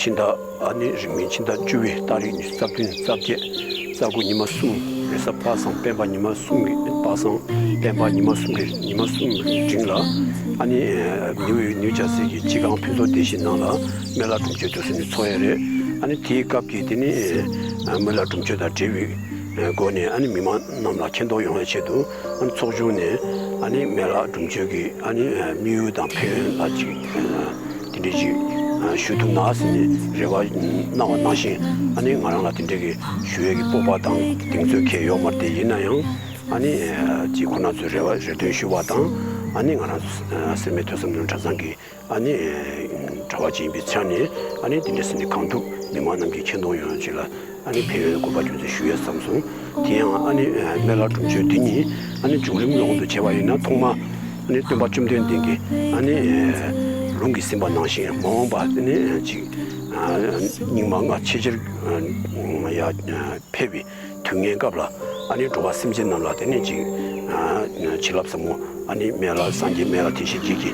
ཕྱི་ཟླ་ནི་རིང་མིན་ཕྱི་ཟླ་བཅུ་བའི་སྟག་རིག་ཉི་ཤུ་རྩ་བདུན་རྩ་བརྒྱད་རྩ་དགུ་ཉི་མ་གསུམ་རེ་ས་དཔག་བསམ་སྤེན་པ་ཉི་མ་གསུམ་གྱི་དཔག་བསམ་སྤེན་པ་ཉི་མ་གསུམ་གྱི་ཉི་མ་གསུམ་འབྲིང་ལ། ཨ་ནི་ནེའུ་ཡི་ནེའུ་བྱ་ཟེར་གྱི་སྤྱི་སྒང་ཕུན་ཚོགས་སྡེ་བཞི་ནང་ལ་མཎྜལ་སྒྲུབ་མཆོད་དུ་སོན་ནི་ཚོགས་ཡས་རེད། ཨ་ནི་དེའི་སྐབས་ཀྱི་དེ་ནི་མཎྜལ་སྒྲུབ་མཆོད་དང་འབྲེལ་བའི་སྒོ་ནས་ཨ་ནི་མི་མང་རྣམས་ལ་མཁྱེན་རྟོགས་ཡོང་བའི་ཆེད་དུ་ཨ་ནི་ཚོགས་ཆུང་ནས་ཨ་ནི་མཎྜལ་སྒྲུབ་མཆོད་ཀྱི་ཨ་ནི་དམིགས་ཡུལ་དང་ཕན་ཡོན་ལ་གཅིག། དེ་འདྲས་ཀྱི་ཞོལ་དུ་ནགས་ཟིན་ནས་རེ་བ་སྣང་བ་སྣང་ཞིང་ཨ་ནི་ང་རང་ལ་དེ་འདྲས་ཀྱི་ཞུ་བས་ཀྱི་སྤོབས་པ་དང་གདེང་ཚོད་ཁེ་ཡོག་མར་དེ་ཡིན་ན་ཡང་ཨ་ནི་ཅིག་ཁོ་ན་ཚོས་རེ་བ་རེ་འདོན་ཞུ་བ་དང་ཨ་ནི་ང་རང་སེར་མའི་ཐོས་བསམ་ནོར་འདྲ་ཚང་གི་ཨ་ནི་གྲྭ་བ་ཅིག་ཡིན་པའི་ཆ་ནས་ཨ་ནི་དེ་འདྲས་ཟིན་ནས་གང་ཐུབ་མི་མང་རྣམས་ཀྱི་ཁེ་འདོང་ཡོང་ཆེད་ལ། ཨ་ནེ་ཕན་ཡོན་དགོན་པར་རྒྱུན་དུ་ཞུ་ཡོད་བསམ་སོང། དེ་ཡང་ཨ་ནེ་སྨན་བླ་སྒྲུབ་མཆོད་འདི་ཉིད་ཨ་ནེ་བྱུང་རིམ་སློང་དུ་བྱས་པ་ཡིན་ན་ཐོག་མ་ཨ་ནེ་སྟོན་པ་བཅོམ་ལྡན་འདས་ཀྱིས་ཨ་ནེ་ལུང་གིས་ཟིན་པ་ནང་བཞིན་མ་འོངས་པ་ཨ་ནེ་གཅིག་རྙིང་མ་སྔ་ཕྱི་ཆེར་འཕེལ་བའི་དུས་ངན་སྐབས་ལ་ཨ་ནེ་འགྲོ་བ་སེམས་ཅན་རྣམས་ལ་དེ་ནས་ཅིག་བྱིན་རླབས་ཟབ་མོ་ཨ་ནེ་སྨན་བླ་སངས་རྒྱས་སྨན་བླ་དེ་བཞིན་རྗེས་ཀྱི།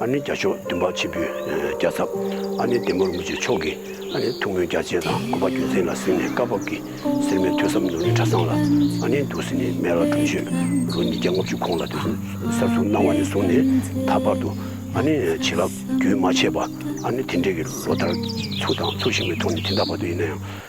ཨ་ནི་རྒྱ་མཆོག་འདུན་པ་ཆེན་པོའི་རྒྱ་ཚབ། ཨ་ནི་བདེ་མོར་མི་བྱེད་མཆོག་གི། ཨ་ནི་ཐུགས་སྨོན་རྒྱ་ཆེན་དང་སྐུ་པ་རྒྱུད་འཛིན་ལ་གཟིགས་ནས་བཀའ་བབས་ཀྱི། སེར་མོའི་ཐོས་བསམ་ནོར་ནི་གྲ་ཚང་ལ། ཨ་ནི་འདུག་ཟིན་ནི་སྨད་ལ་སྒྲུབ་མཆོད། རུ་ཉིས་བརྒྱ་ལྔ་བཅུ་གོང་ལ་དེ་བཞིན་གསར་བཙུགས་གནང་བ་ནས་བཟུང་ནས་ད་བར་དུ། ཨ་ནི་བྱིན་རླབས་རྒྱུན་མ་ཆད་པ། ཨ་ནི་དེ་འབྲེལ་གྱི་ལོ་ལྟར། ཚུར་དང་ཚུར་ཞིག་མའི་ཐོག་ནས་དེ་འདའ་བར་དུ་ཡིན་ན་ཡང།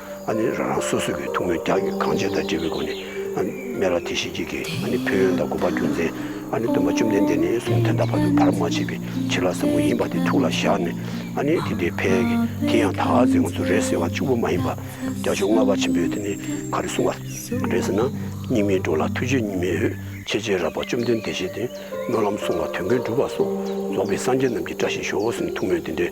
ཨ་ནི་རང་རང་སོ་སོ་གི་ཐུགས་སྨོན་རྒྱ་གྱི་གང་བྱེད་དང་འབྲེལ་བའི་སྒོ་ནས་ཨ་ནི་སྨན་རག་དེ་བཞིན་གྱི་གི་ཨ་ནི་ཕན་ཡོན་དང་དགོས་པ་རྒྱུ་མཚན་ཨ་ནི་སྟོན་པ་བཅོམ་ལྡན་འདས་ནས་གསུང་དེ་དག་བར་དུ་བར་མ་ཆད་པའི་ཕྱིར་ལ་ཟབ་མོ་ཡིན་པ་དེ་ཐུགས་ལ་བཞག་ནས་ཨ་ནི་དེ་འདྲའི་ཕལ་གྱི་དེ་ཡང་དག་ཟེར་ངོ་སོ་རེད་ཟེར་བ་གཅིག་པུ་མ་ཡིན་པར་རྒྱ་མཆོག་ལྔ་པ་ཆེན་པོས་དེ་ནི་ག་རེ་གསུང་བ་རེད་ཟེར་ན་སྙིགས་མའི་འགྲོ་ལ་ཐུགས་རྗེ་གཉིས་མེད་འོད་ཆེས་ཆེས་རགས་པ་བཅོམ་ལྡན་འདས་བཞེད་དེ་སྨོན་ལམ་གསུང་བ་དོན་ཀུན་འགྲུབ་པ་སོགས་རྫོགས་པའི་སངས་རྒྱས་རྣམས་ཀྱི་བཀྲ་ཤིས་ཤོག་འོ་སྲིན་ཐུགས་སྨོན་དེ་འདྲའི་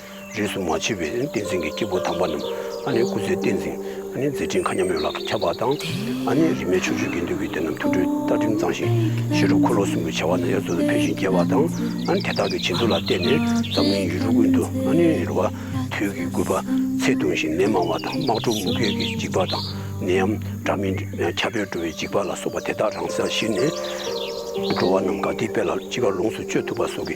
རིས་སུ་མ་ཆད་པའི་བསྟན་འཛིན་གྱི་སྐྱེས་བུ་དམ་པ་རྣམས་སྐུ་ཚེའི་བསྟན་འཛིན་མཛད་ཕྲིན་མཁའ་མཉམ་ཡོངས་ལ་ཁྱབ་པ་དང། རིས་མེད་ཆོས་སྤྱོད་དགེ་འདུན་གྱི་སྡེ་རྣམས་ཐུགས་སྤྲུལ་རྟ་མགྲིན་གཙང་ཞིང་ཞི་ཁྲོ་འཁོར་ལོ་གསུམ་གྱི་བྱ་བ་ནང་ཡར་ཚུར་དུ་འཕེལ་ཞིང་རྒྱས་པ་དང། དེ་དག་གི་བྱིན་རླབས་ལ་བརྟེན་ནས་འཛམ་གླིང་ཡུལ་གྲུ་ཀུན་ཏུ་རིལ་བ་དུས་ཀྱི་རྒུད་པ་ཚད་ཐུང་ཞིང་ནད་མང་བ་དང་དམག་འཁྲུག་དམུ་རྒོད་ཀྱི་འཇིགས་པ་དང་ནད་ཡམས་དྲག་མི་ཁྱབ་པས་འགྲོ་བའི་འཇིགས་པ་ལ་སོགས་པ་དེ་དག་རང་སར་གཞིལ་ནས། འགྲོ་བ་རྣམས་དགའ་བདེའི་དཔལ་ལ་ཅི་དགར་ལོངས་སུ་སྤྱོད་ཐུབ་པ་སོགས་ཀྱི